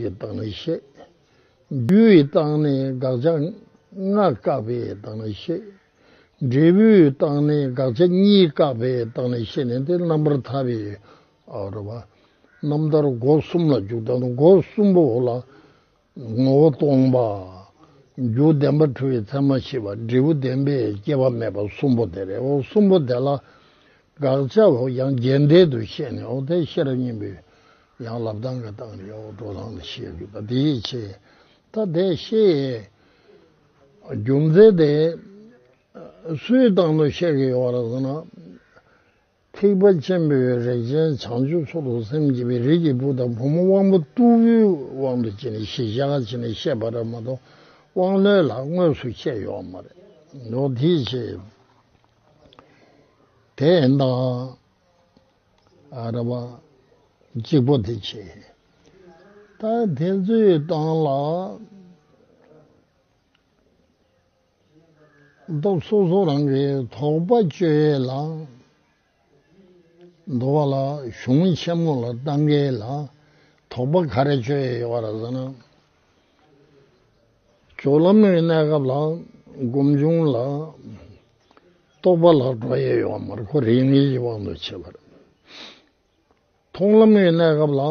ཡི་དྭགས་ནི་གཤེགས། རྒྱུ་ཡི་དྭགས་ནི་དགག་བྱ་ལྔ་བཀག་པའི་དྭགས་ནི་གཤེགས། འབྲས་བུའི་དྭགས་ནི་དགག་བྱ་གཉིས་བཀག་པའི་དྭགས་ནི་གཤེགས་ནས་འདི་རྣམ་པར་ཐར་པའི་རོལ་པ་རྣམ་ཐར་སྒོ་གསུམ་ལ་འཇུག་དང་སྒོ་གསུམ་པོ་ལ་ངོ་བོ་སྟོང་པ། རྒྱུ་བདེན་པ་འཁྲུལ་བའི་མཚན་མ་ཞི་བ་འབྲས་བུ་བདེན་པས་སྐྱེ་བ་མེད་པ་གསུམ་པོ་དེ་རེད་འོ་གསུམ་པོ་དེ་ལ་དགག་བྱ་འོ་ཡང་རྒྱས་འགྲེལ་དུ་བཤད་ནས་འོ་དེ་ཤེས་རབ་སྙིང་པོའི། ཡང་ལབ་དང་གི་དང་གི་འོག་འགྲོ་ལྷང་ལ་བཤད་དགོས་པ་དེའི་ཆེད་ད་དེ་ཤེས་ཡས་རྒྱུ་མཚན་དེ་སུའི་བཏང་ནོ་བཤད་གི་ཡོད་ར་ཟེར་ན་ཐེག་པ་ཆེན་པོའི་རིགས་ཅན་བྱང་ཆུབ་མཚོ་ལྷོ་སེམས་བསྐྱེད་པའི་རིགས་ཀྱི་བུ་དང་བུ་མོ་དབང་པོ་རྟུལ་བོའི་དབང་དུ་བྱས་ནས་ཤེས་བྱ་བྱས་ནས་བཤད་པ་ར་མ་གཏོགས་དབང་རྣོན་ལ་དངོས་སུ་བཤད་ཡོད་མ་རེད་འདུག་དེའི་ཆེད་དེ་ཡིན་ན། ར་བ། གཅིག་པོ་དེ་བྱེད། ད་དེ་ཚོའི་སྟངས་ལ། སྟོབས་སོ་སོ་རང་གི་དོགས་པ་གཅོད་ལ། འདུ་བ་ལ་གཞུང་ཆེན་མོ་ལ་ལྟ་འགལ་ལ། དོགས་པ་ག་རེ་གཅོད་ཡོད་རེད་ཟེར་ན། སྦྱོར་ལམ་གྱི་གནས་སྐབས་ལ་སྒོམ་བྱུང་ལ། རྟོག་པ་ལ་སྒྲོ་དབྱེ་ཡོད་པ་མར་ཁོ་རེ་གཉིས་ཀྱི་དབང་དུ་བྱས་པར། མཐོང་ལམ་གྱི་གནས་སྐབས་ལ་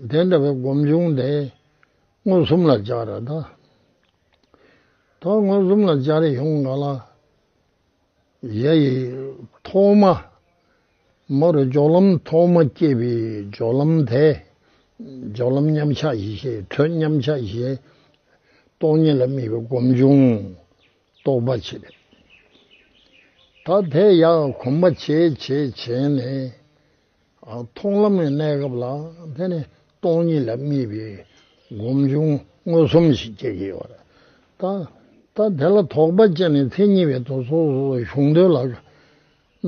དེ་འདྲ་བའི་སྒོམ་བྱུང་སྟེ་མངོན་སུམ་ལ་སྦྱར། ད་མངོན་སུམ་ལ་སྦྱར་ཡོང་ག་ལ། གཡས་ཡིག་ཐོག་མ། མ་རུ་སྦྱོར་ལམ་ཐོག་མ་སྐྱེས་པའི་སྦྱོར་ལམ་དེ། སྦྱོར་ལམ་མཉམ་གཞག་བཞི་ཤེས་དྲོད་མཉམ་གཞག་བཞི། སྟོང་ཉིད་ལ་དམིགས་པའི་སྒོམ་བྱུང་རྟོགས་པ་བྱས་པས། ད་དེ་ཡང་གོམས་པ་ཇེ་ཆེ་བྱས་ནས། མཐོང་ལམ་གྱི་གནས་སྐབས་ལ་བརྟེན་ནས་སྟོང་ཉིད་ལ་དམིགས་པའི་སྒོམ་བྱུང་མངོན་སུམ་ཞིག་སྐྱེ་གི་ཡོད་རེད། ད་ལྟ་དེ་ལ་དོགས་པ་སྐྱེས་ནས་མཚན་ཉིད་པའི་དོགས་སོ་སོ་སོ་བྱུང་དོན་ལ།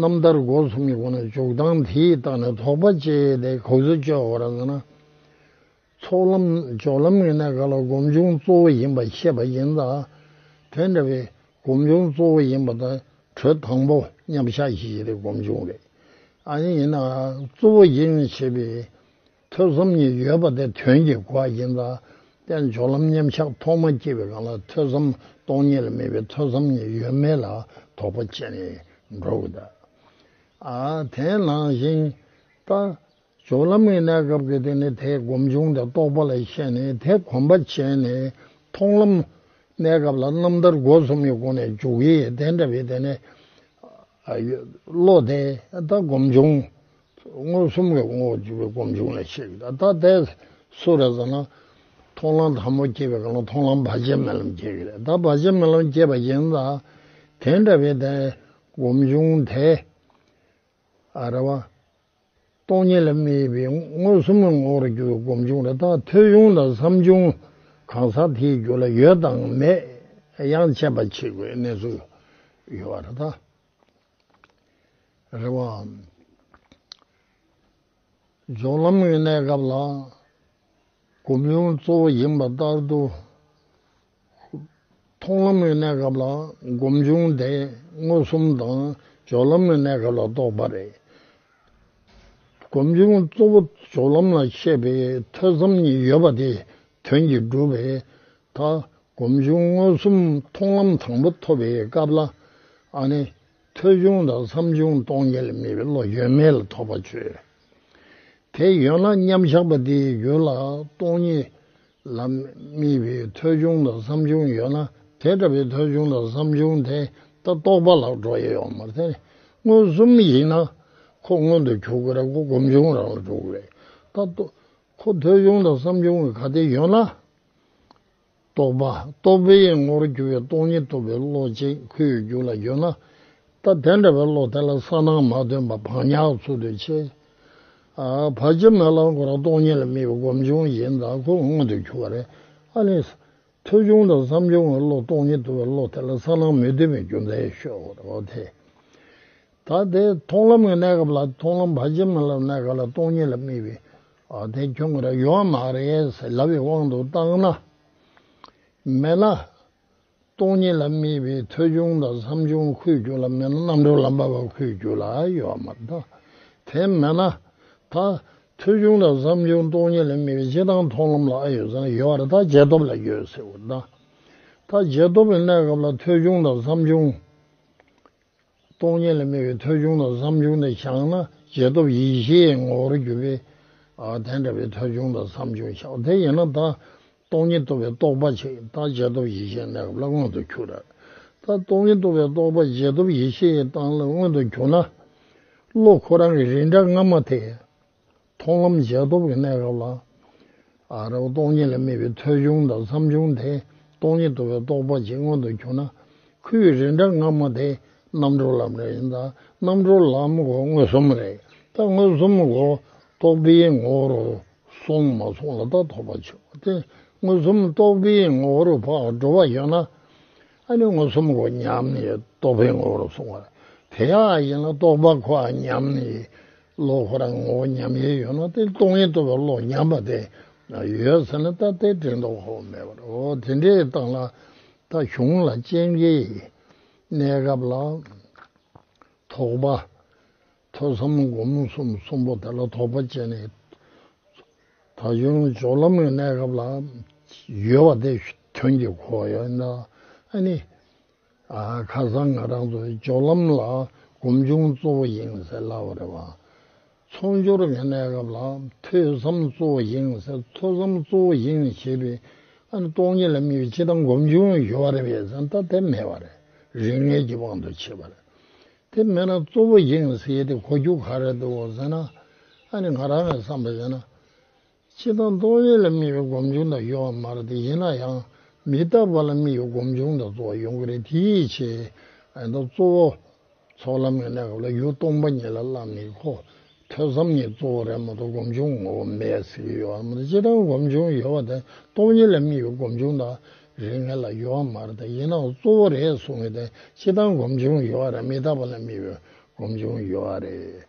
རྣམ་ཐར་སྒོ་གསུམ་གྱི་སྒོ་ནས་འཇུག་སྟངས་དེའི་སྟངས་ནས་དོགས་པ་སྐྱེས་ཏེ་གོ་ཚུལ་སྤྱོད་འོང་བར་མཛད་ན། ཚོགས་ལམ་ནི་སྦྱོར་ལམ་ངེས་གནས་ག་ལ་སྒོམ་བྱུང་གཙོ་བོ་ཡིན་པ་ཤེས་པ་ཡིན་ལ། དེ་འདྲ་བའི་སྒོམ་བྱུང་གཙོ་བོ་ཡིན་པ་དང་དྲོད་དང་པོ་མཉམ་བཞག་ཞིག་ཡིན་རེ་སྒོམ་བྱུང་རེ་ཨ་ཡིན་ཡིན་ན་གཙོ་བོ་ཡིན་ཞེས་པའི་ཐོས་བསམ་གཉིས་ཡོད་པ་དེ་དོན་གྱི་གོ་བ་ཡིན་ལ། དཔལ་སྦྱོར་ལམ་མཉམ་བཞག་ཐོག་མ་སྐྱེས་པའི་གང་ལ་ཐོས་བསམ་སྟོང་ཉིད་ལ་མེད་པའི་ཐོས་བསམ་གཉིས་ཡོད་མེད་ལ་དོགས་པ་བཅད་ནས་འགྲོ་དགོས་ད། དེ་ནང་བཞིན་ལྟ་སྦྱོར་ལམ་གཉིས་གནས་སྐབས་ཀྱི་དེ་ནི་དེ་སྒོམ་བྱུང་དང་རྟོགས་པ་ལ་ཤེས་ནས་དེ་གོམས་པ་བྱས་ནས་མཐོང་ལམ། གནས་སྐབས་ལ་རྣམ་ཐར་སྒོ་གསུམ་གྱི་སྒོ་ནས་འཇུག་ཡེ་དེ་འདྲ་བའི་དེ་ནི། བློ་དེ་ད་སྒོམ་བྱུང། མངོན་སུམ་གྱི་ངོ་བོ་བཅུ་པའི་སྒོམ་བྱུང་ལ་ཤེས་ཀྱི་ད་ལྟ་དེ་སུ་རེད་ཟེར་ན། མཐོང་ལམ་དང་པོ་སྐྱེས་པའི་གང་ལ་མཐོང་ལམ་བར་ཆད་མེད་ལམ་སྐྱེ་གི་རེད་ད་བར་ཆད་མེད་ལམ་སྐྱེས་པ་ཡིན་ད། དེ་འདྲ་བའི་དེ་ནི་སྒོམ་བྱུང་དེ། རེད་བ། སྟོང་ཉིད་ལ་མི་དབྱེ་བའི་མངོན་སུམ་ངོ་བོར་གྱུར་པའི་སྒོམ་བྱུང་རེ་དོགས་ཐོས་བྱུང་དང་བསམ་བྱུང་གང་ཟག་དེའི་རྒྱུད་ལ་ཡོད་དང་མེད་ཡང་དཔྱད་པ་བྱེད་དགོས་གནས་ཚུལ་ཡོད་པ་རེ་དོགས་རེ་བའམ། སྦྱོར་ལམ་གྱི་གནས་སྐབས་ལ་སྒོམ་བྱུང་གཙོ་བོ་ཡིན་པ་ལྟར་དུ་མཐོང་ལམ་གྱི་གནས་སྐབས་ལ་སྒོམ་བྱུང་དེ་མངོན་སུམ་དང་སྦྱོར་ལམ་གྱི་གནས་སྐབས་ལ་རྟོགས་པ་རེད། སྒོམ་བྱུང་གཙོ་བོ་སྦྱོར་ལམ་ལ་མཆེད་པའི་ཐོས་བསམ་གཉིས་ཡོད་པ་དེ་དོན་གྱིས་འགྲུབ་པས་མཐའ། སྒོམ་བྱུང་མངོན་སུམ་མཐོང་ལམ་དང་པོ་ཐོབ་པའི་སྐབས་ལ་ཨ་ནི། ཐོས་བྱུང་དང་བསམ་བྱུང་སྟོང་ཉིད་ལ་མེད་པའི་བློ་ཡོད་མེད་ལ་ཐོགས་པ་ཆོད། དེ་ཡོད་ན་མཉམ་གཞག་པ་དེའི་རྒྱུད་ལ་སྟོང་ཉིད་ལ་དམིགས་པའི་ཐོལ་བྱུང་དང་བསམ་བྱུང་ཡོད་ན་དེ་འདྲ་བའི་ཐོལ་བྱུང་དང་བསམ་བྱུང་དེ་ལྟ་རྟོག་པ་ལ་འགྲོ་ཡི་ཡོད་མ་རེད། མངོན་སུམ་ཡིན་ན་ཁོ་མངོན་དུ་གྱུར་གི་རེད་ཁོ་སྒོམ་བྱུང་རང་ལ་འགྲོ་གི་རེད་ད་རྟོག་ཁོ་ཐོལ་བྱུང་དང་བསམ་བྱུང་གི་ག་དེ་ཡོད་ན། རྟོག་པ་རྟོག་པའི་ངོ་རུ་གྱུར་བའི་སྟོང་ཉིད་རྟོགས་པའི་བློ་གཅིག་ཁོའི་རྒྱུད་ལ་ཡོད་ན། ད་དེ་འདྲ་བའི་བློ་དེ་ལ་གསང་སྣང་མ་སྟོན་པ་བག་ཉག་ཚུལ་དུ་ཆེ། བར་སྐྱེ་མེད་རླངས་འཁོར་རང་སྟོང་ཉིད་ལ་དམིགས་པའི་སྒོམ་བྱུང་གཞན་དག་ཀུན་མངོན་དུ་གྱུར་པ་རེད། ཨ་ནི། ཐོས་བྱུང་དང་བསམ་བྱུང་གི་བློ་སྟོང་ཉིད་དུ་བའི་བློ་དེ་ལ་གསང་སྣང་མི་མཐུན་པའི་རྒྱུ་མཚན་ཡོད་ཤོག་ཨོ་དེ། ད་དེ་མཐོང་ལམ་གྱི་གནས་སྐབས་ལ་མཐོང་ལམ་བར་སྐྱེ་མེད་ལམ་གནས་སྐབས་ལ་སྟོང་ཉིད་ལ་དམིགས་པའི་ཨོ་དེ་ཁྱོད་ཀྱི་རེ་བ་མ་རེད་ཟེར་ལབ་པའི་དབང་དུ་བཏང་ན། མེད་ན། སྟོང་ཉིད་ལ་དམིགས་པའི་ཐོས་ཆུང་དང་བསམ་ཆུང་ཁུལ་བརྒྱུད་ལ་མེད་ན་རྣམ་གྲོལ་ལམ་པ་བ་ཁུལ་བརྒྱུད་ལ་ཡོད་པ་མ་གཏོགས་དེ་མེད་ན། ད། ཐོས་ཆུང་དང་བསམ་ཆུང་སྟོང་ཉིད་ལ་དམིགས་པའི་སྤྱི་དང་མཐོང་ལམ་ལ་ཨ་ཡོད་ཚང་ཡོད་པར་ད་རྗེས་ཐོབ་ལ་ཡོད་ཟེར་བ་དང། ད་རྗེས་ཐོབ་པའི་གནས་སྐབས་ལ་ཐོས་ཆུང་དང་བསམ་ཆུང། སྟོང་ཉིད་ལ་སྨྲས་པའི་ཐོལ་བྱུང་དང་བསམ་བྱུང་དེ་ཕྱག་ན་རྗེས་ཐོབ་ཡེ་ཤེས་ཀྱི་ངོ་བོར་གྱུར་པས། དེ་འདྲ་བའི་ཐོལ་བྱུང་དང་བསམ་བྱུང་ཕྱག་དེ་ཡིན་ན་ད། སྟོང་ཉིད་རྟོགས་པའི་རྟོགས་པ་ཆེ་རྟགས་རྗེས་ཐོབ་ཡེ་ཤེས་གནས་སྐབས་ལ་མངོན་དུ་གྱུར། ད་སྟོང་ཉིད་རྟོགས་པའི་རྟོགས་པ་རྗེས་ཐོབ་ཡེ་ཤེས་ཀྱི་རྟགས་ལ་མངོན་དུ་གྱུར་ན། བློ་ཁོ་རང་གི་རིགས་འདྲ་སྔ་མ་དེ། མཐོང་ལམ་རྗེས་ཐོབ་ཀྱི་གནས་སྐབས་ལ། རེ་བ་སྟོང་ཉིད་ལས་སྨིན་པའི་ཐོས་ཆུང་དང་བསམ་ཆུང་དེ་སྟོང་ཉིད་དུ་བའི་རྟོགས་པ་ཇི་མངོན་དུ་གྱུར་ན། ཁུ་བའི་རིན་སྒྲ་སྔ་མ་དེ་རྣམ་གྲོལ་ལམ་རེད་ཡིན་ད་རྣམ་གྲོལ་ལམ་སྒོ་མངོན་སུམ་རེད་ད་མངོན་སུམ་སྒོ་རྟོགས་པའི་ངོ་བོར་སོང་མ་སོང་ལ་ད་ཐོབ་པ་ཆེ་བ་སྟེ་མངོན་སུམ་རྟོགས་པའི་ངོ་བོར་བག་འགྲོ་བ་ཡོད་ན། ཨ་ནི་མངོན་སུམ་སྒོ་ཉམས་ནི་རྟོགས་པའི་ངོ་བོར་སོང་བ་དེ་ཡག་ཡིན་ལ་རྟོགས་པ་ཁོ་ཉམས་ནི། བློ་ཁོ་རང་ངོ་བོ་ཉམས་ཡེ་ཡོད་ན་དེ་སྟོང་ཉིད་རྟོགས་པའི་བློ་ཉམས་པ་དེ་ཡོད་ཟེར་ན་ད་དེ་དྲན་རྟོག་ཁོ་བོ་མེད་པར་འོ་དེ་འདྲའི་སྟངས་ལ་ད་གཞུང་ལ་སྤྱན་གྱི་གནས་སྐབས་ལ་དོགས་པ། ཐོས་བསམ་སྒོམ་གསུམ་གསུམ་པོ་དེ་ལ་དོགས་པ་སྤྱད་ནས་ད་གཞུང་སྦྱོར་ལམ་གྱི་གནས་སྐབས་ལ་ཡོད་པ་དེ་དོན་གྱི་གོ་བ་ཡོད་ན་ཨ་ནི། ཁ་སང་ང་རང་ཚོ་སྦྱོར་ལམ་ལ་གོམ་ཆུང་གཙོ་བོ་ཡིན་ཟེར་ལབ་པ་རེད་བ། ཚོགས་སྦྱོར་གི་གནས་སྐབས་ལ་ཐོས་བསམ་གཙོ་བོ་ཡིན་ཟེར་ཐོས་བསམ་གཙོ་བོ་ཡིན་ཞེས་པའི་སྟོང་ཉིད་ལ་མི་བས་ཅི་དང་གོམ་ཆུང་ཡོད་བ་རེད་བས་ཟེར་ད་དེ་མེད་བ་རེད་རིག་གནས་ཀྱི་དབང་དུ་བྱས་པ་རེད། དེ་མེད་ན་གཙོ་བོ་ཡིན་ཟེར་དེ་གོ་རྒྱུ་ག་རེ་འདུག་ཟེར་ན་ཨ་ནི་ང་རང་གི་བསམ་པ་ཡིན་ན་ཕྱི་དང་རྟོག་ཡེ་ལ་དམིགས་པའི་སྒོམ་བྱུང་དང་གཡོ་བ་མ་རེད་དེ་ཡིན་ན་ཡང་མི་རྟག་པ་ལ་དམིགས་པའི་སྒོམ་བྱུང་དང་གཙོ་བོ་ཡོང་གི་རེད་དེའི་ཕྱིར། གཙོ་བོ། ཚོགས་ལམ་གྱི་གནས་སྐབས་ལ་ཡུལ་སྟོང་པ་ཉིད་ལ་བླ་མེད་ཁོ། ཐོས་བསམ་གཉིས་གཙོ་བོ་རེད་མ་གཏོགས་སྒོམ་བྱུང་ངོ་བོ་མེད་ཟེར་གྱི་ཡོད་བ་མ་རེད་སྤྱིར་བཏང་སྒོམ་བྱུང་ཡོད་བ་དེ་རྟོག་ཡེ་ལ་དམིགས་པའི་སྒོམ་བྱུང་དང་རེ་ངེས་ལ་གཡོ་བ་མ་རེད་དེ་ཡིན་ནའང་གཙོ་བོ་རེད་གསུང་གི་དེ་སྤྱིར་བཏང་སྒོམ་བྱུང་ཡོད་བ་རེད་མི་རྟག་པ་ལ་དམིགས་པའི་སྒོམ་བྱུང་ཡོད་བ་རེད།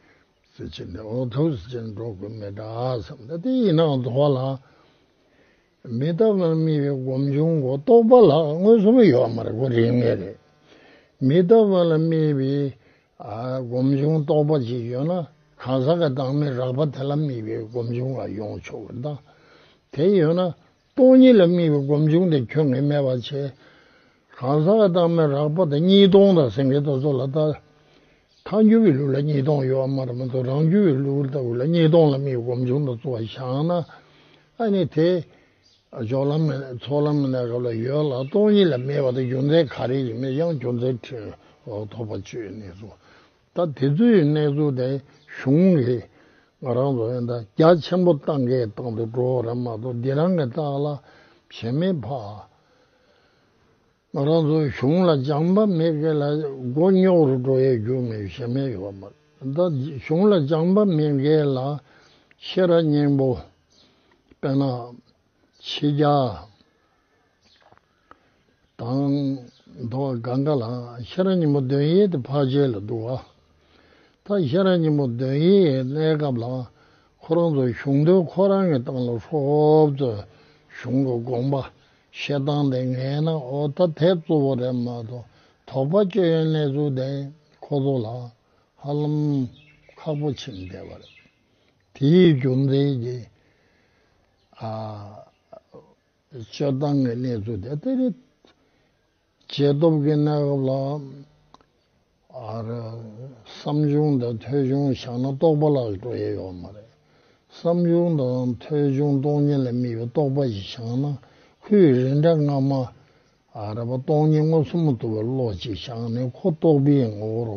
གཟི་བྱིན་ནི་འོང་ཐོབ་གཟི་བྱིན་འགྲོ་དགོས་མེད་འདྲ་བསམ་ན་དེ་ཡིན་ནའང་དོགས་པ་ལ་མི་ལྟ་བར་རྨི་བའི་སྒོམ་བྱུང་གོ་རྟོགས་པ་ལ་མངོན་སུམ་ཡོད་མ་རེད་གོ་རིགས་ངེས་རེད། མི་ལྟ་བ་ལ་རྨི་བའི་སྒོམ་བྱུང་རྟོགས་པ་ཅིག་ཡོད་ན་གང་ཟག་གི་བདག་མེད་རགས་པ་དེ་ལ་རྨི་བའི་སྒོམ་བྱུང་ལ་ཡོང་ཆོག་གི་གདངས་དེ་ཡོད་ན་སྟོང་ཉིད་ལ་དམིགས་པའི་སྒོམ་བྱུང་དེ་ཁྱོད་ངས་སྨད་པར་བྱས། གང་ཟག་གི་རྟགས་མེད་རགས་པ་དང་གཉིས་སྟོང་དང་སེང་གེའི་རྟོག་ཚོགས་ལ་བལྟ། ཐལ་འགྱུར་བའི་ལུགས་ལ་གཉིས་སྟོང་ཡོད་དམར་དམར་ཚོགས་རང་འགྱུར་བའི་ལུགས་ལྟ་བུ་ལ་གཉིས་སྟོང་ལ་དམིགས་པའི་སྒོམ་བྱུང་དང་རྩོལ་བ་བྱང་ན་ཨ་ནི་དེ། ཚོགས་ལམ་མི་སྣའི་སྐབས་ལ་ཡོད་ལ་སྟོང་ཉིད་ལ་མེད་པ་དང་རྒྱུ་མཚན་ག་རེ་ཡིན་མིན་ཡང་རྒྱུ་མཚན་འཁྲིད་འོག་ཐོགས་པ་བཅོས་ནས་སོ། ད་དེ་ཚོའི་གནས་ཚུལ་དེ་གཞུང་གིས་ང་རང་ཚོ་ཨེ་འདྲ་རྒྱ་ཆེན་པོ་བཏང་གི་བཏང་དུ་འགྲོ་བ་རེད་མ་གཏོགས་འདི་རང་གི་རྟགས་ལ་བྱེད་མི་ཕ། ང་རང་ཚོ་གཞུང་ལ་སྦྱང་པ་མེད་གི་ལ་མགོ་རྙོག་རུ་འགྲོ་ཡའི་རྒྱུ་མེད་བྱེད་མི་ཡོད་པ་མ་རེད་ད་གཞུང་ལ་སྦྱང་པ་མེད་གི་ལ་ཤེས་ར་སྙིང་པོ་དཔེ་ན་ཕྱི་རྒྱ་དང། འདུ་བ་དགའ་འགའ་ལ་ཤ་ར་ཉིན་མོ་འདོན་ཡས་ཏེ་བྷ་ཇའི་ལ་འདུ་བ། ད་ཤ་ར་ཉིན་མོ་འདོན་ཡས་གནས་སྐབས་ལ་ཁོ་རང་ཚོ་གཞུང་དོན་ཁོ་རང་གི་སྟངས་ལ་ཧྲོབ་ཙོས་གཞུང་གི་དགོངས་པ་བཤད་སྟངས་དེ་ངས་ན་ཨོ་ད་དེ་གཙོ་བོ་རེད་མ་གཏོགས་དོགས་པ་སྤྱོད་ཡོན་གནས་ཚུལ་དེ་ཁོ་ཚོ་ལ་ཧ་ལམ་ཁག་པོ་ཕྱིན་བསྡད་པ་རེད་དེའི་རྒྱུ་མཚན་གྱིས་ཨ། སྤྱོད་སྟངས་ཀྱི་གནས་ཚུལ་དེ་ལྟ་རེད། རྗེས་ཐོབ་ཀྱི་གནས་སྐབས་ལ། བསམ་བྱུང་དང་ཐོས་བྱུང་བཞག་ན་རྟོག་པ་ལ་འགྲོ་ཡས་ཡོད་མ་རེད། བསམ་བྱུང་དང་ཐོས་བྱུང་སྟོང་ཉིད་ལ་དམིགས་པའི་རྟོག་པ་ཞིག་བཞག་ན་ཁོས་རིགས་འདྲ་སྔ་མ། སྟོང་ཉིད་ངོ་ཚ་མ་ཐུབ་པའི་བློ་ཅིག་བཞག་ནས་ཁོ་རྟོག་པའི་ངོ་བོ་རུ་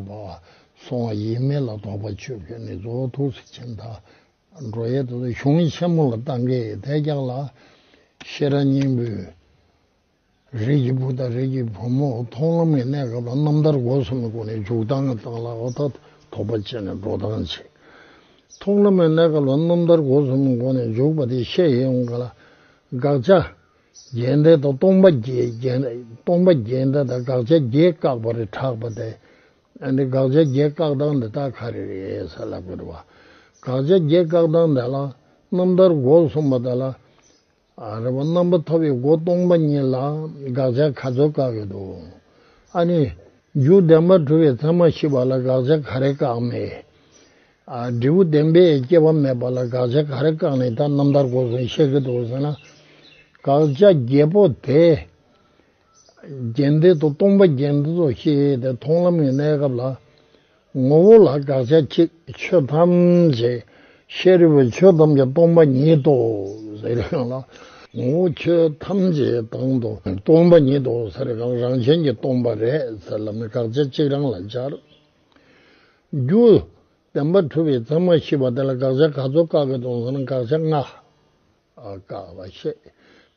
སོང་བ་ཡིན་མིན་ལ་དོགས་པ་ཆོད་ཁོས་ནི་རྫོགས་ཐུགས་སུ་ཆེ་མཐའ་འགྲོ་ཡས་དོ་དོ་གཞུང་ཆེན་མོ་ལ་རྟ་འགས་དད་རྒྱག་ལ། ཤེས་རབ་སྙིང་པོས་རིགས་ཀྱི་བུ་དང་རིགས་ཀྱི་བུ་མོ་མཐོང་ལམ་གྱི་གནས་སྐབས་ལ་རྣམ་ཐར་སྒོ་གསུམ་གྱི་སྒོ་ནས་འཇུག་ལྡང་གི་རྟགས་ལ་ཨོ་ད་དོགས་པ་བཅད་ནས་འགྲོ་ལྡང་བྱེད། མཐོང་ལམ་གྱི་གནས་སྐབས་ལ་རྣམ་ཐར་སྒོ་གསུམ་གྱི་སྒོ་ནས་འཇུག་པ་དེ་ཤེས་ཡོན་ག་ལ། དགག་བྱ། རྒྱས་འདེད་དང་སྟོང་པ་རྒྱས་འདེད་དང་དགག་བྱ་རྒྱས་བཀག་པ་རེ་གྲགས་པ་དེ་ཨ་ནི་དགག་བྱ་བརྒྱད་བཀག་སྟངས་འདི་དག་ག་རེ་རེད་ས་ལ་བཀོད་འདུག་བ། དགག་བྱ་བརྒྱད་བཀག་སྟངས་འདི་ལ་རྣམ་ཐར་སྒོ་གསུམ་པ་དག་ལ་རེད་བ། རྣམ་པ་ཐོབ་པའི་སྒོ་སྟོང་པ་ཉིད་ལ་དགག་བྱ་ག་ཚོད་བཀག་ཡོད་འདུག་ཨ་ནི། འཇུག་བདེན་པར་གྲུབ་པའི་མཚན་མ་ཤེས་པ་ལ་དགག་བྱ་ག་རེ་བཀག་མེད། ཨ་འབྲས་བུ་བདེན་པས་སྐྱེ་བ་མེད་པ་ལ་དགག་བྱ་ག་རེ་བཀག་ནས་ད་རྣམ་ཐར་སྒོ་གསུམ་བཤད་ཀྱི་འདུག་ཟེར་ན། དགག་བྱ་བརྒྱད་པོ་དེ། རྒྱན་འདི་དང་སྟོང་པ་རྒྱན་འདི་དང་ཞེས་དེ་མཐོང་ལམ་གྱི་གནས་སྐབས་ལ། ངོ་བོ་ལ་དགག་བྱ་ཅིག་ཆོས་ཐམས་ཅད་ཤེས་རབ་པའི་ཆོས་ཐམས་ཅད་སྟོང་པ་ཉིད་དོ་ཟེར་བའི་དབྱངས་ལ། ངོ་བོ་ཆོས་ཐམས་ཅད་དང་དུ་སྟོང་པ་ཉིད་དོ་ཟེར་བའི་དབྱངས་རང་བཞིན་གྱིས་སྟོང་པ་རེད་ཟེར་ལམ་དགག་བྱ་གཅིག་རང་ལ་སྦྱར། རྒྱུ། བདེན་པ་གྲུབ་པའི་མཚན་མ་བཞི་པ་དེ་ལ་དགག་བྱ་ག་ཚོད་བཀག་གི་དང་ཟེར་ན་དགག་བྱ་ལྔ། ཀ་བ་ཤེས།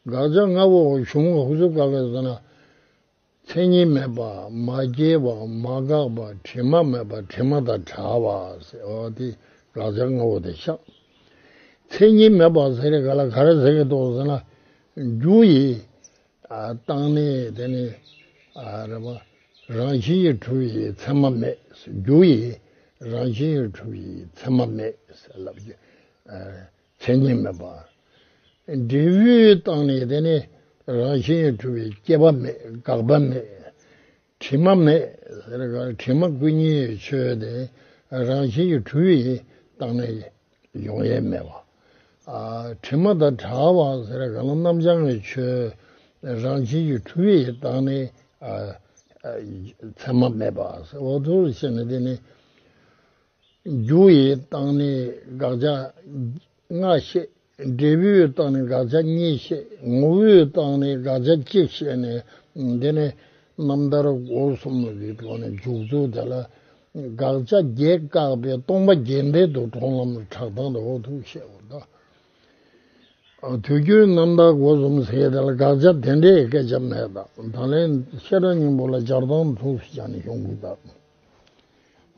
དགག་བྱ་ལྔ་པོ་གཞུང་ལུགས་ཧུར་བཟོ་དཀའ་བས་བཟོ་ན། མཚན་ཉིད་མེད་པ་མ་སྐྱེས་པ་མ་འགགས་པ་དྲི་མ་མེད་པ་དྲི་མ་དང་བྲལ་བ། དེ་དགག་བྱ་ལྔ་བོ་དེ་ཤག། མཚན་ཉིད་མེད་པ་ཟེར་ནས་ག་ལ་ག་རེ་ཟེར་གི་འདུག་ཟེར་ན། རྒྱུ་ཡི། བཏང་ནི་དེ་ནི། རེད་པ། རང་བཞིན་གྱིས་གྲུབ་པའི་མཚན་མ་མེད། རྒྱུ་ཡི། རང་བཞིན་གྱིས་གྲུབ་པའི་མཚན་མ་མེད། ལབ་ཀྱི། མཚན་ཉིད་མེད་པ། འབྲས་བུའི་རྟགས་ནི་དེ་ནི་རང་བཞིན་གྲུབ་པའི་སྐྱེ་བ་མེད་འགག་པ་མེད། དྲི་མ་མེད། དྲི་མ་ཀུན་ཉེའི་ཆོས་དེ་རང་བཞིན་གྱི་གྲུབ་པའི་རྟགས་ནི་ཡོང་ཡལ་མེད་པ། དྲི་མ་དང་གྲགས་པ་རྣམ་བྱང་གི་ཆོས་རང་བཞིན་གྱི་གྲུབ་པའི་རྟགས་ནི་མཚན་མ་མེད་པ། རྒྱུ་ཡི་རྟགས་ནི་དགག་བྱ་ལྔ་བཤད། འབྲས་བུའི་རྟགས་ནི་དགག་བྱ་གཉིས་བཤད། ངོ་བོའི་རྟགས་ནི་དགག་བྱ་གཅིག་བཤད་ནས། འདི་ནི་རྣམ་ཐར་སྒོ་གསུམ་གྱི་ཐོག་ནས་འཇུག་ཚུལ་དེ་ལ། དགག་བྱ་བརྒྱད་བཀག་པའི་སྟོང་པ་རྒྱས་འབྲེལ་དུ་གྲོང་ལམ་གྲགས་སྟངས་དང་འོག་ཏུ་བཤད་པ་དང། དུས་རྒྱུན་རྣམ་ཐར་སྒོ་གསུམ་ཟེར་བའི་དེ་ལ་དགག་བྱ་དེ་འདྲའི་སྐད་ཆ་མེད། ད་ལན་བཤད་གྲྭ་སྙིང་པོ་ལ་སྦྱར་སྟངས་མཚུངས་སུ་སྦྱར་ནས་གཞུང་བསྐུལ་དང།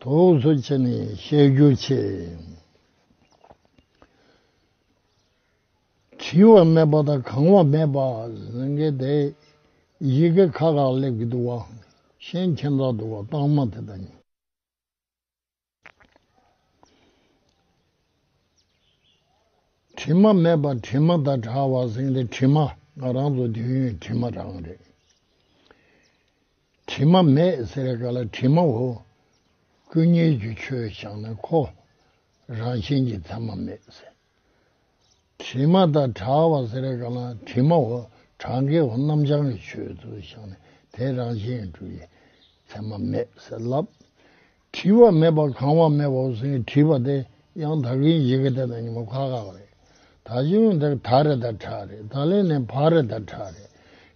དོགས་གཟོ་བྱས་ནས་བཤད་རྒྱུ་ཆེ། བྲིས་བ་མེད་པ་དང་གང་བ་མེད་པ་ཟེར་གི་དེ་ཡི་གེ་ཁ་ཁ་སླེབས་ཀྱི་འདུག་བ། ཤན་ཁྱེད་འཛག་འདུག་བ་རྟགས་མ་དེ་དང། དྲི་མ་མེད་པ་དྲི་མ་དང་འདྲ་བ་ཟེར་གི་དྲི་མ་ང་རང་ཚོ་དུས་ཡུན་དྲི་མ་རང་རེད། དྲི་མ་མེད་ཟེར་ག་ལ་དྲི་མ་འོ། སྐུ་ཉིད་ཀྱི་ཆོས་ཀྱང་ན་ཁོ། རང་བཞིན་གྱིས་མཚན་མ་མེད་ཟེར། དྲི་མ་དང་གྲགས་བ་ཟེར་ག་ལ་དྲི་མ་འོ། གྲགས་འགལ་བ་རྣམ་བྱང་གི་ཆོས་སུ་བཞག་ནས་དེ་རང་བཞིན་དུ་ཡི་མཚན་མ་མེད་ཟེར་ལབ། བྲིས་བ་མེད་པར་གང་བ་མེད་པར་ཟིན་གྱི་བྲིས་པ་དེ་ཡང་ད་གིན་བཞིན་གྱི་དེ་ན་ཉིན་མོ་ཁག་ཁག་རེད། ད་གཞི་བོན་དེར་ད་རེད་ད་ཁྲ་རེད་ད་ལན་ནས་བག་རེད་ད་ཁྲ་རེད།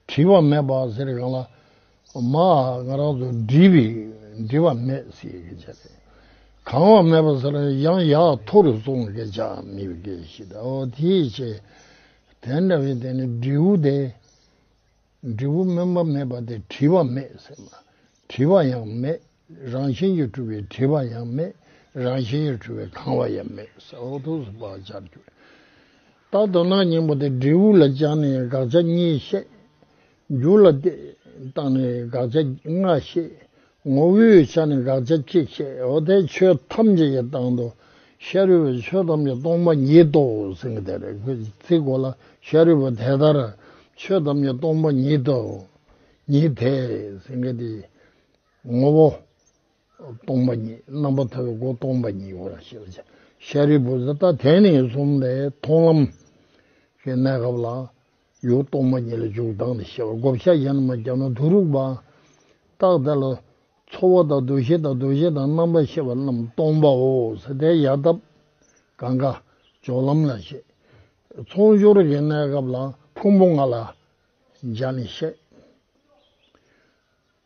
བྲིས་བ་མེད་པ་ཟེར་གང་ལ། མ་ཨ་ང་རང་ཚོ་བྲིས་པས་འབྲི་བ་མེད་ཟེར་གྱི་བྱ་རེད། གང་བ་མེད་པ་ཟེར་ན་ཡང་ཡག་ཐོ་རུ་སོང་གི་བྱ་མི་བ་གི་ཤི་ད་ཨོ་དེའི་ཕྱི། དེ་འདྲ་བའི་དེ་ནི་འབྲི་བོ་དེ། འབྲི་བོ་སྨོན་པ་མེད་པ་དེ་བྲིས་བ་མེད་ཟེར་ན་བྲིས་བ་ཡང་མེད། རང་བཞིན་གྱིས་གྲུབ་པའི་དྲི་བ་ཡང་མེད། རང་བཞིན་གྱིས་གྲུབ་པའི་གང་བ་ཡང་མེད། ས་འོག་ཏུ་སུ་བག་ཆགས་རྒྱུ། རྟག་ཏུ་སྣང་སྙིང་པོ་སྟེ་འབྲས་བུ་ལ་བཅངས་ནས་དགག་བྱ་གཉིས་བཤད། རྒྱུ་ལ་བརྟགས་ནས་དགག་བྱ་ལྔ་བཤད། ངོ་བོའི་ཆ་ནས་དགག་བྱ་གཅིག་བཤད། འོ་དེ་ཆོས་ཐམས་ཅད་ཀྱི་དང་དུ་ཤཱ་རིའི་བུ་ཆོས་ཐམས་ཅད་སྟོང་པ་ཉིད་དོ་ཟེར་གྱི་དེ་རེག་པའི་ཚིག་གོ་ལ་ཤཱ་རིའི་བུ་དེ་ལྟར་ཆོས་ཐམས་ཅད་སྟོང་པ་ཉིད་དོ། ཉིད་དེ་ཟེར་གྱི་དེ། ངོ་བོ། སྟོང་པ་ཉིད་རྣམ་པར་ཐར་པའི་སྒོ་སྟོང་པ་ཉིད་ཡིན་ལ་ཞེས་པ་ཅི། ཤཱ་རིའི་བུ་ད་ལྟ་དེ་ནི་གསུམ་ལས་མཐོང་ལམ། ཞེས་གནས་སྐབས་ལ། ཡུལ་སྟོང་པ་ཉིད་ལ་འཇུག་ལྡང་སྟེ་ཞེས་པ་བགོ་བཤའ་གཞན་དུ་མ་བརྒྱབ་ན་དུ་རུག་པ། རྟགས་དེ་ལ། ཚོར་བ་དང་འདུ་ཤེས་དང་འདུ་བྱེད་དང་རྣམ་པར་ཤེས་པ་རྣམས་སྟོང་པའོ་ཟེར་ཏེ་ཡལ་འདབ། གང་གཱ། སྦྱོར་ལམ་ལ་བཤད། མཚུངས་སྦྱོར་གྱི་གནས་སྐབས་ལ་ཕུང་པོ་ལྔ་ལ། སྦྱར་ནས་བཤད།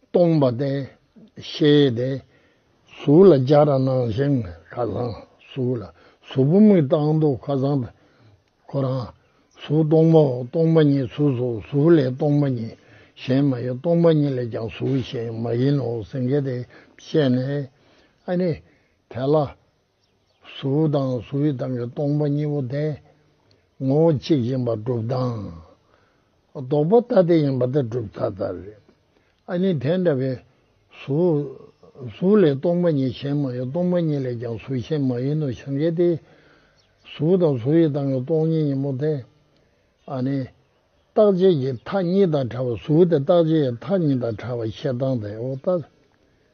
སྟོང་པ་སྟེ། ཤེས་ཏེ། གཟུགས་ལ་སྦྱར་ར་སྣང་ཞིང་ཁ་སང་གཟུགས་ལ། གཟུགས་བུམ་མི་རྟག་འདུག་ཁ་སང་དང། ཁོ་རང། གཟུགས་སྟོང་པའོ་སྟོང་པ་ཉིད་གཟུགས་སོ་གཟུགས་ལས་སྟོང་པ་ཉིད་གཞན་མ་ཡིན་སྟོང་པ་ཉིད་ལས་ཀྱང་གཟུགས་གཞན་མ་ཡིན་ནོ་སེང་གེ་དེས་བཤད་ནས། ཨ་ནི། དེ་ལ། གཟུ་བོ་དང་གཟུ་བོའི་དང་གི་སྟོང་པ་གཉིས་པོ་དེ་ངོ་བོ་གཅིག་ཡིན་པར་སྒྲུབ་སྟངས། ལྡོག་པ་ལྟ་དེ་ཡིན་པ་དེ་སྒྲུབ་ཚ་ལྟར་རེད། ཨ་ནི་དེ་འདྲ་བའི་གཟུ་བོ། གཟུ་ལས་སྟོང་པ་ཉིད་གཞན་མ་ཡིན་སྟོང་པ་ཉིད་ལས་ཀྱང་གཟུ་གཞན་མ་ཡིན་ནོ་བྱང་གི་དེ། གཟུ་བོ་དང་གཟུ་བོའི་དང་གི་སྟོང་ཉིད་ཡིན་པོ་དེ། ཨ་ནི། རྟག་ཆད་ཀྱི་མཐའ་གཉིས་དང་བྲལ་བ་གཟུ་བོ་དེ་རྟག་ཆད་ཀྱི་མཐའ་གཉིས་དང་བྲལ་བ་བཤད་སྟངས་དེའོ་ལྟ།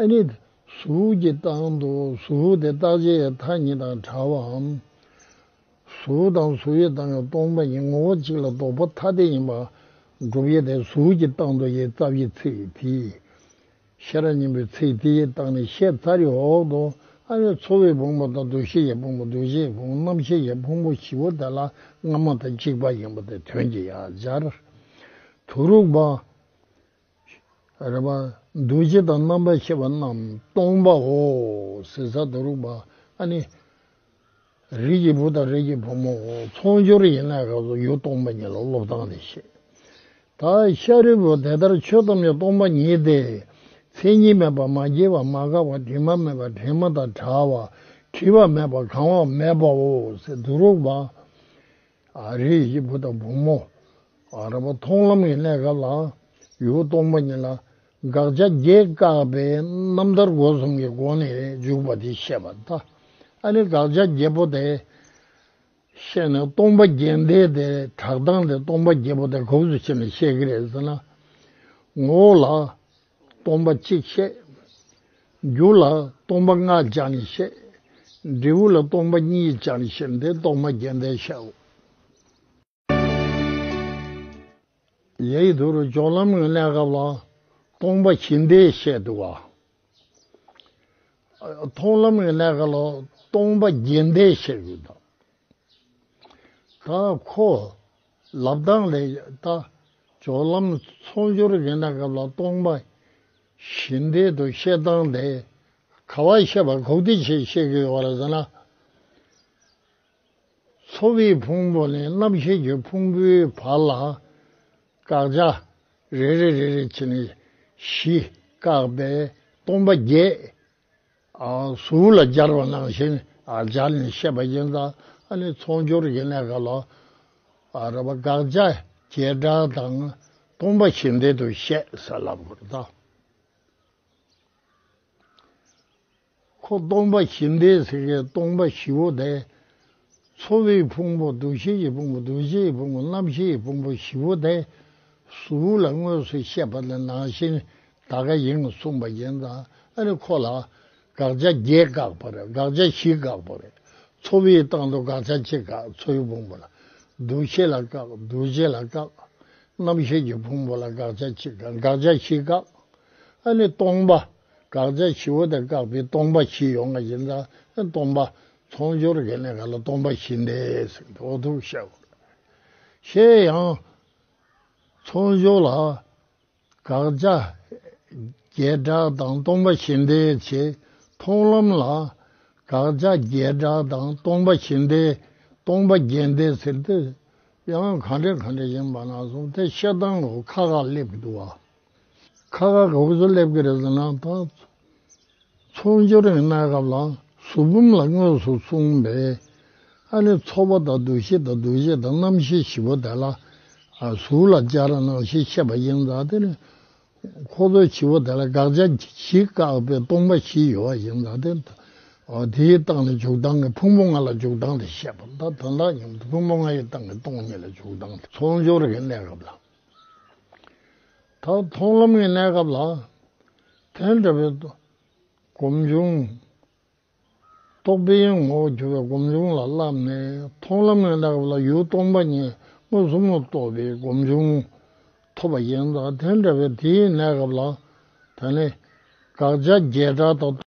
ཨ་ནི། གཟུགས་ཀྱི་རྟགས་འདུག་གཟུགས་དེ་རྟགས་ཆའི་མཐའ་གཉིས་དང་བྲལ་བའམ། གཟུགས་དང་གཟུགས་ཡོད་སྟངས་ཡང་སྟོང་པ་ཉིད་ངོ་བོ་གཅིག་ལ་ལྡོག་པ་ཐ་དད་ཡིན་པ། སྒྲུབ་ཡེ་དེ་གཟུགས་ཀྱི་རྟགས་འདུག་ཡེ་རྩ་བཞིའི་ཚིག་དེ། ཤེས་རབ་སྙིང་པོའི་ཚིག་དེའི་རྟགས་ནི་ཤེས་རྩ་རི་འོག་ཏུ་ཨ་ཡོད་ཚོར་བའི་བུང་བ་དང་འདུ་ཤེས་ཀྱི་བུང་བ་འདུ་བྱེད་ཀྱི་རྣམ་ཤེས་ཀྱི་བུང་བ་བཞི་བོ་དེ་ལ་སྔ་མ་དང་གཅིག་པ་ཡིན་པ་དེ་དོན་གྱི་ཡ་སྦྱར་དུ་རུག་པ། རེ་བ། འདུ་བྱེད་དང་རྣམ་པར་ཤེས་པ་རྣམས་སྟོང་པའོ། ཟིལ་ཟ་དུ་རུག་པ་ནི། རིགས་ཀྱི་བུ་དང་རིགས་ཀྱི་བུ་མོའོ། ཚོགས་སྦྱོར་ཡན་ལག་གི་ཡུལ་སྟོང་པ་ཉིད་ལ་བློ་བཏང་ནས་ཤེས། ད་ཤཱ་རིའི་བུ་དེ་ལྟར་ཆོས་ཐམས་ཅད་སྟོང་པ་ཉིད་དེ། མཚན་ཉིད་མེད་པར་མ་སྐྱེས་པར་མ་འགགས་པར་དྲི་མ་མེད་པར་དྲི་མ་དང་བྲལ་བར་དྲི་བ་མེད་པར་གང་བ་མེད་པའོ། ཟིལ་དུ་རུག་པ། ཨ་རིའི་གཞིས་བུ་དང་བུ་མོ་རེ་བ་མཐོང་ལམ་གྱི་གནས་སྐབས་ལའང་ཡུ་གུ་སྟོང་པ་ཉིད་ལ་དགག་བྱ་བརྒྱད་བཀག་པའི་རྣམ་ཐར་སྒོ་གསུམ་གྱི་སྒོ་ནས་འཇུག་པ་དེ་བཤད་པ་ལྟ་ཨ་ནི་དགག་བྱ་བརྒྱད་པོ་དེ་བཤད་ནས་སྟོང་པ་རྒྱན་བསྟན་ཏེ་གྲགས་སྟངས་དེ་སྟོང་པ་བརྒྱད་པོ་དེ་གོབས་སུ་ཕྱེ་ནས་བཤད་ཀྱི་རེད་ཟེར་ན་ངོ་བོ་ལ་སྟོང་པ་གཅིག་བཤད། རྒྱུ་ལ་སྟོང་པ་ལྔ་སྦྱར་ནས་བཤད། འབྲས་བུ་ལ་སྟོང་པ་གཉིས་སྦྱར་ནས་བཤད་འདི་གཏོར་མ་རྒྱན་ལྟར་བཤད། ལས་ཀྱི་དུས་རུ་སྦྱོར་ལམ་གྱི་གནས་སྐབས་ལ་སྟོང་པ་བཞི་འདས་བཤད་འདུག། མཐོང་ལམ་གྱི་གནས་སྐབས་ལ་སྟོང་པ་བརྒྱད་འདས་བཤད་ཡོད། ད་ཁོ། ལབ་གདང་ལས་བཏགས་སྦྱོར་ལམ་ཚོགས་སྦྱོར་གྱི་གནས་སྐབས་ལ་སྟོང་པ་བཞི་འདས་དུ་བཤད་སྟངས་དེ་ག་བ་བཤད་པ་གོ་བདེ་ཆེ་བཤད་ཀྱི་ཡོད་ར་ཟེར་ན། ཚོ་བའི་ཕུང་པོ་ནས་རྣམ་ཤེས་ཀྱི་ཕུང་པོའི་བར་ལ་བཀག་རྒྱ་རེ་རེ་རེ་རེ་བྱས་ནས་བཞི་བཀག་པས་སྟོང་པ་བརྒྱད་གཟུགས་ལ་སྦྱར་བ་ནང་བཞིན་སྦྱར་ནས་བཤད་པ་ཡིན། ཚོགས་སྦྱོར་གྱི་གནད་ག་ལ་རབ་པ་དགག་བྱ་བྱེ་བྲག་དང་སྟོང་པ་ཞེས་འདི་དུ་བཤད་ཟེར་ལབ་དགོས་ལ། ཁོ་སྟོང་པ་བཞི་འདས་ཟེར་མཁན་སྟོང་པ་བཞི་བོ་དེ་འཚོ་བའི་ཕུང་པོ་འདུ་བྱེད་ཀྱི་ཕུང་པོ་འདུ་བྱེད་ཀྱི་ཕུང་པོ་རྣམ་ཤེས་ཀྱི་ཕུང་པོ་བཞི་པོ་དེ་གཟུགས་ལ་དངོས་སུ་བཤད་པ་ནི་ནང་བཞིན་དག་ག་ཡིན་གསུངས་པ་བཞིན་དང་ཨ་རི་ཁོ་ལ་དགག་བྱ་བརྒྱད་དགག་པ་རེད་དགག་བྱ་བཞི་དགག་པ་རེད། འཚོ་བའི་སྟེང་དུ་དགག་བྱ་གཅིག་དགག་འཚོ་བའི་ཕུང་པོ་ལ་འདུ་བྱེད་ལ་དགག་འདུ་བྱེད་ལ་དགག། རྣམ་ཤེས་ཀྱི་ཕུང་པོ་ལ་དགག་བྱ་གཅིག་དགག་དགག་བྱ་བཞི་དགག། ཨ་ནི་སྟོང་པ་དགག་བྱ་བཞི་བོ་དེ་དགག་པའི་སྟོང་པ་བཞི་ཡོང་བ་བཞིན་དང་སྟོང་པ་མཐོང་སྦྱོར་གྱི་གནས་ག་ལ་སྟོང་པ་བཞིན་ཏེ་ཟེར་ཏེ་འོ་ཐུག་བཤད་དགོས། ཤེས་ཡང། མཐོང་སྦྱོར་ལ་དགག་བྱ་བརྒྱད་སྒྲ་དང་སྟོང་པ་བཞིན་ཏེ་བྱེད། མཐོང་ལམ་ལ་དགག་བྱ་བརྒྱད་སྒྲ་དང་སྟོང་པ་བཞིན་ཏེ་སྟོང་པ་བརྒྱན་ཏེ་ཟེར་ཏེ། ཡང་གང་དྲན་གང་དྲན་ཡིན་པ་ན་སོང་སྟེ་ཤེལ་དང་ཁ་ཁ་སླེབས་འདུག་བ། ཁ་ཁ་ག་བུ་ཚོ་སླེབས་ཀྱི་རེད་ཟེར་ན་ད། ཚོགས་འབྱོར་ཡིན་ན་སྐབས་ལ་གཟུགས་འབུམ་ལ་དངོས་སུ་གསུངས་པས། ཨ་ནི་ཚོགས་པ་དང་འདུ་ཤེས་དང་འདུ་ཤེས་དང་རྣམ་ཤེས་བཞི་པོ་དེ་ལ། གཟུགས་ལ་སྦྱར་ན་རྣམ་ཤེས་ཤེས་པ་ཡིན་ཙང་དེ་ནི། ཁོ་ཚོ་བཞི་པོ་དེ་ལ་དགག་བྱ་བཞི་བཀག་པའི་སྟོང་པ་བཞི་ཡོད་པ་ཡིན་ཙང་དེ། དེའི་སྟེང་ནས་འཇུག་ལྡང་གི་ཕུང་པོ་ལྔ་ལ་འཇུག་ལྡང་དེ་བཤད་པ་ད་དོན་དག་སྙམ་དུ་ཕུང་པོ་ལྔའི་སྟེང་གི་སྟོང་ཉིད་ལ་འཇུག་ལྡང་དེ་ཚོགས་འབྱོར་གྱི་གནས་སྐབས་ལ། ད་མཐོང་ལམ་གྱི་གནས་སྐབས་ལ། དེ་འདྲ་བའི། སྒོམ་བྱུང། རྟོག་པའི་ངོ་བོར་གྱུར་པའི་སྒོམ་བྱུང་ལ་བསླབས་ནས་མཐོང་ལམ་གྱི་གནས་སྐབས་ལ་ཡུལ་སྟོང་པ་ཉིད་མངོན་སུམ་དུ་རྟོགས་པའི་སྒོམ་བྱུང་ཐོབ་པ་ཡིན། དེ་འདྲ་བའི་དེའི་གནས་སྐབས་ལ། ད་ནི། དགག་བྱ་བརྒྱད་དགྲ་དང།